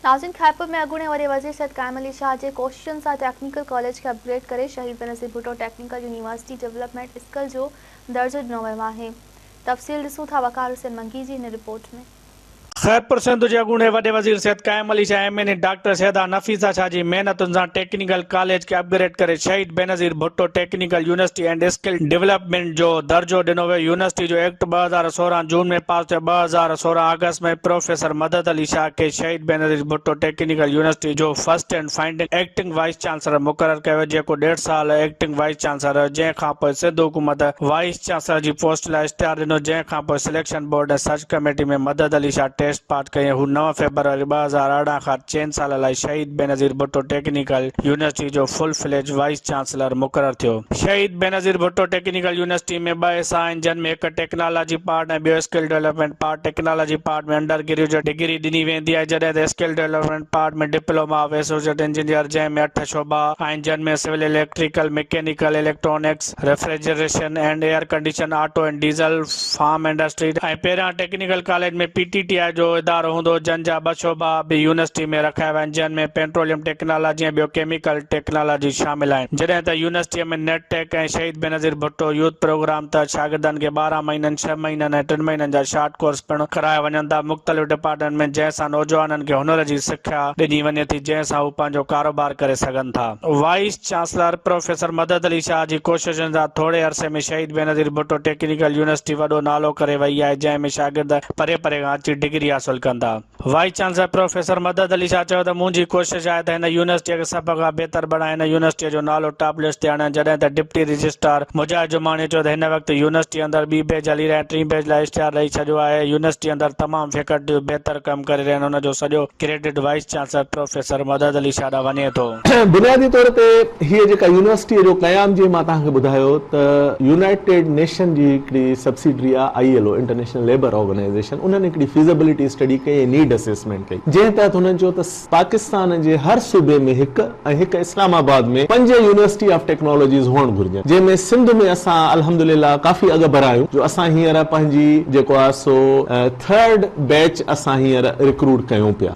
ناظرين خيرپور ۾ اڳوڻي وڏي وزير سيد قائم علي شاهه جي ڪوششن سان ٽيڪنيڪل ڪاليج کي اپ گريڊ ڪري Shaheed Benazir Bhutto technical university development skill جو درجو ڏنو ويو آهي تفصيل ڏسون ٿا وقار حسين منگي جي هن رپورٽ ۾. خيرپور سنڌ جي اڳوڻي وڏي وزير Syed Qaim Ali Shah M N A doctor Syeda Nafisa Shah جي محنتن سان ٽيڪنيڪل ڪاليج کي اپ گريڊ ڪري Shaheed Benazir Bhutto technical university and skill development جو درجو ڏنو ويو يونيورسٽي جو ايڪٽ ٻه هزار سورهن جون ۾ پاس ٿيو ٻه هزار سورهن آگسٽ ۾ پروفيسر مدد علي شاهه کي شهيد بينظير ڀٽو ٽيڪنيڪل يونيورسٽي جو first and founding acting vice chancellor مقرر ڪيو ويو جيڪو ڏيڍ سال ايڪٽنگ وائيس چانسلر رهيو جنهن کانپوء سنڌ حڪومت وائيس چانسلر جي پوسٽ لاء اشتهار ڏنو جنهن کانپوء selection board ۽ search committee ۾ Madad Ali Shah test pass ڪئي ۽ هو نو فيبروري ٻه هزار ارڙهن کان چئن سالن لاء Shaheed Benazir Bhutto technical university university جو فل فليج وائيس چانسلر مقرر ٿيو. شهيد بينظير ڀٽو ٽيڪنيڪل يونيورسٽي ۾ ٻه حصا آهن جن ۾ هڪ ٽيڪنالاجي پارٽ ۽ ٻيو skill development part technology part ۾ undergraduate degree ڏني ويندي آهي جڏهن ته skill development part ۾ diploma of associate engineer جنهن ۾ اٺ شعبا آهن جن ۾ civil electrical, mechanical, electronics, refrigeration and air condition, auto and diesel, farm industry ۽ پهريان technical college ۾ P T T I جو ادارو هوندو جن جا ٻه شعبا به يونيورسٽي ۾ رکايا ويا آهن جنهن ۾ پينٽروليم ٽيڪنالاجي ۽ ٻيو ڪيميڪل ٽيڪنالاجي شامل آهن جڏهن ته يونيورسٽي ۾ نيٽ ٽيڪ ۽ شهيد بينظير ڀٽو يوٿ پروگرام تحت شاگردن کي ٻارهن مهينن ڇهه مهينن ۽ ٽن مهينن جا شارٽ ڪورس پڻ ڪرايا وڃن ٿا مختلف ڊپارٽمينٽ ۾ جنهن سان نوجوانن کي هنر جي سکيا ڏني وڃي ٿي جنهن سان هو پنهنجو ڪاروبار ڪري سگهن ٿا vice chancellor professor Madad Ali Shah جي ڪوششن سان ٿوري عرصي ۾ شهيد بينظير ڀٽو ٽيڪنيڪل يونيورسٽي وڏو نالو ڪري وئي آهي جنهن ۾ شاگرد پري پري کان اچي ڊگري حاصل ڪن ٿا. Vice chancellor professor Madad Ali Shah چيو ته منهنجي ڪوشش آهي ته هن يونيورسٽي کي سڀ کان بهتر بڻائي هن يونيورسٽي جو نالو ٽاپ لسٽ تي آڻيان جڏهن ته ڊپٽي رجسٽرار مجاهد جماڻيء چيو ته هن وقت يونيورسٽي اندر ٻي بيچ هلي رهي آهي ٽين بيچ لاء اشتهار ڏئي ڇڏيو آهي يونيورسٽي اندر تمام فيڪلٽيون بهتر ڪم ڪري رهيون آهن ان جو سڄو credit vice professor professor Madad Ali Shah ڏانهن وڃي ٿو. بنيادي طور تي هيء جيڪا يونيورسٽيء جو قيام جيئن مان توهان کي ٻڌايو ته يونائيٽيڊ نيشن جي هڪڙي subsidiary I I L O international labour organisation انهن هڪڙي فيزيبلٽي اسٽڊي ڪئي ۽ نيڊ اسيسمينٽ ڪئي جنهن تحت هنن چيو ته پاڪستان جي هر صوبي ۾ هڪ ۽ هڪ اسلام آباد ۾ پنج يونيورسٽي آف ٽيڪنالاجيز هئڻ گهرجن جنهن ۾ سنڌ ۾ اسان الحمدلله ڪافي اڳڀرا آهيون جو اسان هينئر پنهنجي جيڪو آهي سو ٿرڊ بيچ اسان هينئر رڪروٽ ڪيون پيا.